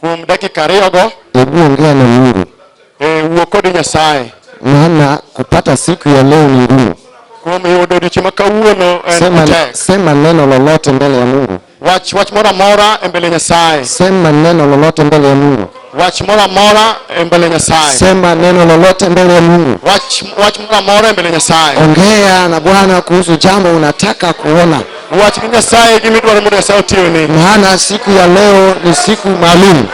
Kuom dakika ariyogo. Hebu ongea na Mungu. E, wuo kod Nyasaye. Maana kupata siku ya leo ni ngumu. Kuom yudo odiechieng' ma kawuono en sema, matek. Sema neno lolote mbele ya Mungu. Wach wach moro amora e mbele Nyasaye. Sema neno lolote mbele ya Mungu. Wach moro amora e mbele Nyasaye. Sema neno lolote mbele ya Mungu. Wach wach moro amora e mbele Nyasaye. Ongea na Bwana kuhusu jambo unataka kuona. Wach gi Nyasaye gima idwaro mondo Nyasaye otimni. maana siku ya leo ni siku maalum,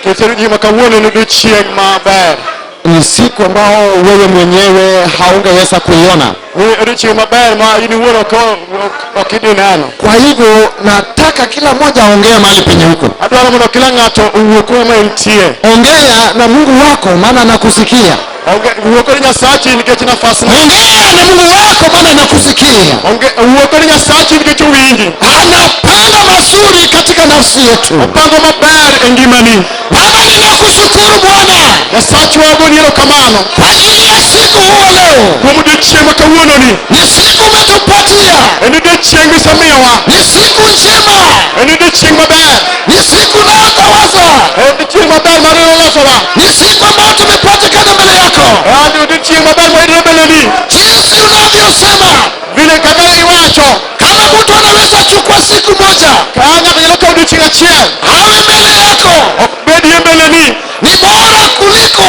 Nikech en gima kawuono en odiechieng' maber. ni siku ambao wewe mwenyewe haungeweza kuiona. Ni odiechieng' maber ma in iwuon ok ok- ok idhi neno. Kwa hivyo nataka kila mmoja aongee mahali penye huko, Adwaro mondo kila ng'ato owuo kuma entie. ongea na Mungu wako, maana anakusikia. Onge- Wuo kod Nyasachi nikech nafas ni. ongea na mungu wako maana anakusikia Onge- Wuo kod Nyasachi nikech owinji. anapanga mazuri katika nafsi yetu Opango maber e ngimani. baba ninakushukuru bwana Nyasachi wago ni erokamano kwa ajili ya siku huo leo kuom odiochieng' ma kawuononi. ni siku umetupatia En odiochieng' misemiyowa. ni siku njema En odiochieng' maber. Ni siku unayotawaza. En chieng' maber mar ilo losowa. Ni siku ambayo tumepatikana mbele yako. En odiechieng' maber mar ilo mbeleni. Jinsi unavyosema. Vile kaka iwacho. Kama mtu anaweza chukua siku moja. Ka ng'ato nyalo kawo odiechieng' achiel. Awe mbele yako. Ok bedie mbeleni. Ni bora kuliko.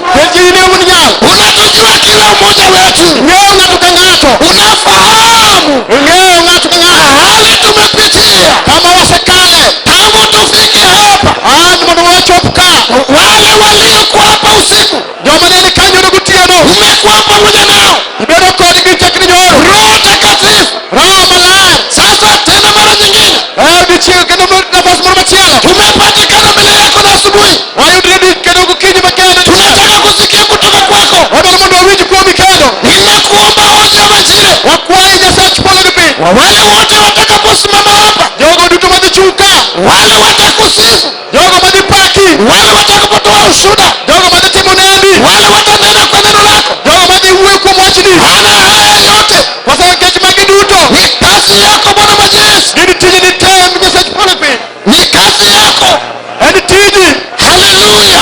Penjri ni un nyal. Unatujua kila mmoja wetu, Ng'eyo ng'ato ka ng'ato. unafahamu Ng'eyo ng'ato ka ng'ato. mahali tumepitia Kama wasekale. tangu tufike hapa. An mondo wachop ka. Wale waliokuwa hapa usiku, Joma ne ni kanyo ne gotieno. umekuwa pamoja nao. Ibedo kodgi chakre nyoro. Roho Mtakatifu Roho maler. Sasa tena mara nyingine Eh, dichiel kendo mar- nafas moro machielo. tumepatikana mbele yako na asubuhi, Wayudre di kendo gokinyi ma kendo. tunataka kusikia kutoka kwako. Wadwaro mondo wawinj kuomi kendo. Ninakuomba wote wa majira, Wakwayi Nyasach polo gi piny. wale wote watakaposimama hapa, Jogo duto madhi chung' ka. wale watakusifu, jogo madhi paki wale watakapotoa ushuda jogo madhi timo unabii wale watanena kwa neno lako jogo madhi wuoyo kuom wachni maana haya yote kwa sababu kech magi duto ni kazi yako bwana majeshi gin tiji ni tem nyasach polo piny ni kazi yako en tiji haleluya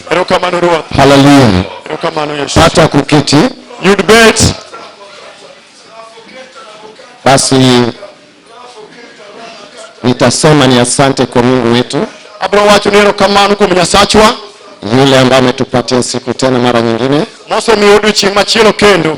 Erokamano Ruoth. Hallelujah. Erokamano Yesu. Pata kuketi. Yud bet. Basi nitasema ni asante kwa Mungu wetu. Abro wacho ni erokamano kuom Nyasachwa. Yule ambaye ametupatia siku tena mara nyingine. Mose miyo odiochieng' machielo kendo.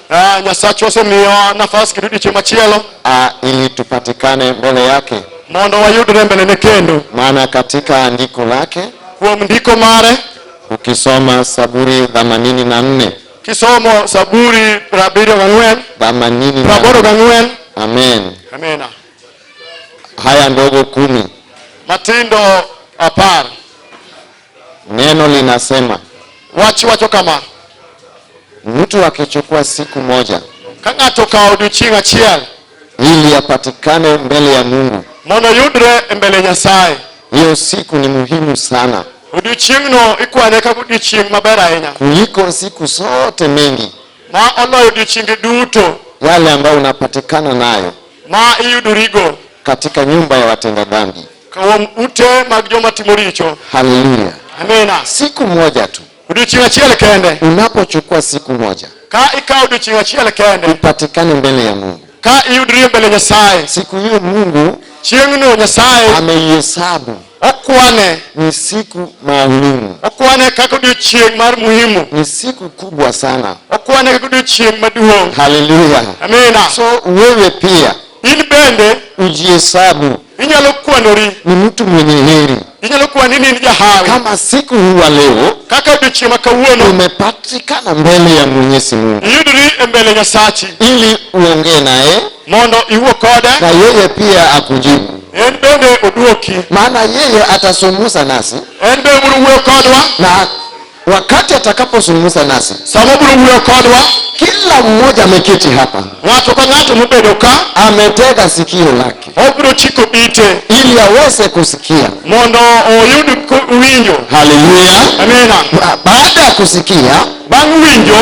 Ah, Nyasachwa osemiyowa nafas kendo odiechieng' machielo ah, ili tupatikane mbele yake, mondo wayudre mbelene kendo maana katika andiko lake kuom ndiko mare ukisoma Saburi 84 kisomo Saburi prabiriyo gang'wen 84 praboro gang'wen amen. amena Haya ndogo kumi Matindo apar Neno linasema Wach wacho kama, mtu akichukua siku moja ka ng'ato okawo odiechieng' achiel ili apatikane mbele ya Mungu, mondo oyudre e mbele Nyasaye, hiyo siku ni muhimu sana odiechieng'no ikwane kaka odiechieng' maber ahinya kuliko siku zote mengi, ma oloyo odiechienge duto yale ambayo unapatikana nayo ma iyudorigo katika nyumba ya watenda dhambi. Kuom ute mag joma timo richo. Haleluya. Amina. Siku moja tu. Odiochieng' achiel kende. Unapochukua siku moja. Ka ikawo odiochieng' achiel kende. Upatikane mbele ya Mungu. Ka iyudri mbele Nyasaye. Siku hiyo Mungu. Chieng'no Nyasaye. Ameihesabu okwane ni siku maalumu, okwane kaka odiochieng' mar muhimu, ni siku kubwa sana, okwane kaka odiochieng' maduong'. Haleluya, amina. So wewe pia In bende ujihesabu inyalo kwanori, ni mtu mwenye heri inyalo kwani ni in jahawi. kama siku hii wa leo Kaka odiochieng' ma kawuono umepatikana mbele ya Mwenyezi Mungu iyudori e mbele Nyasachi ili uongee naye mondo iwuo kode, na yeye pia akujibu, en bende odwoki, maana yeye atazungumza nasi en bende obiro wuoyo kodwa na wakati atakapozungumza nasi sama biro wuoyo kodwa kila mmoja ameketi hapa ng'ato ka ng'ato mobedo ka ametega sikio lake obiro chiko ite ili aweze kusikia mondo oyud ku- winjo haleluya amina Ba- baada ya kusikia bang' winjo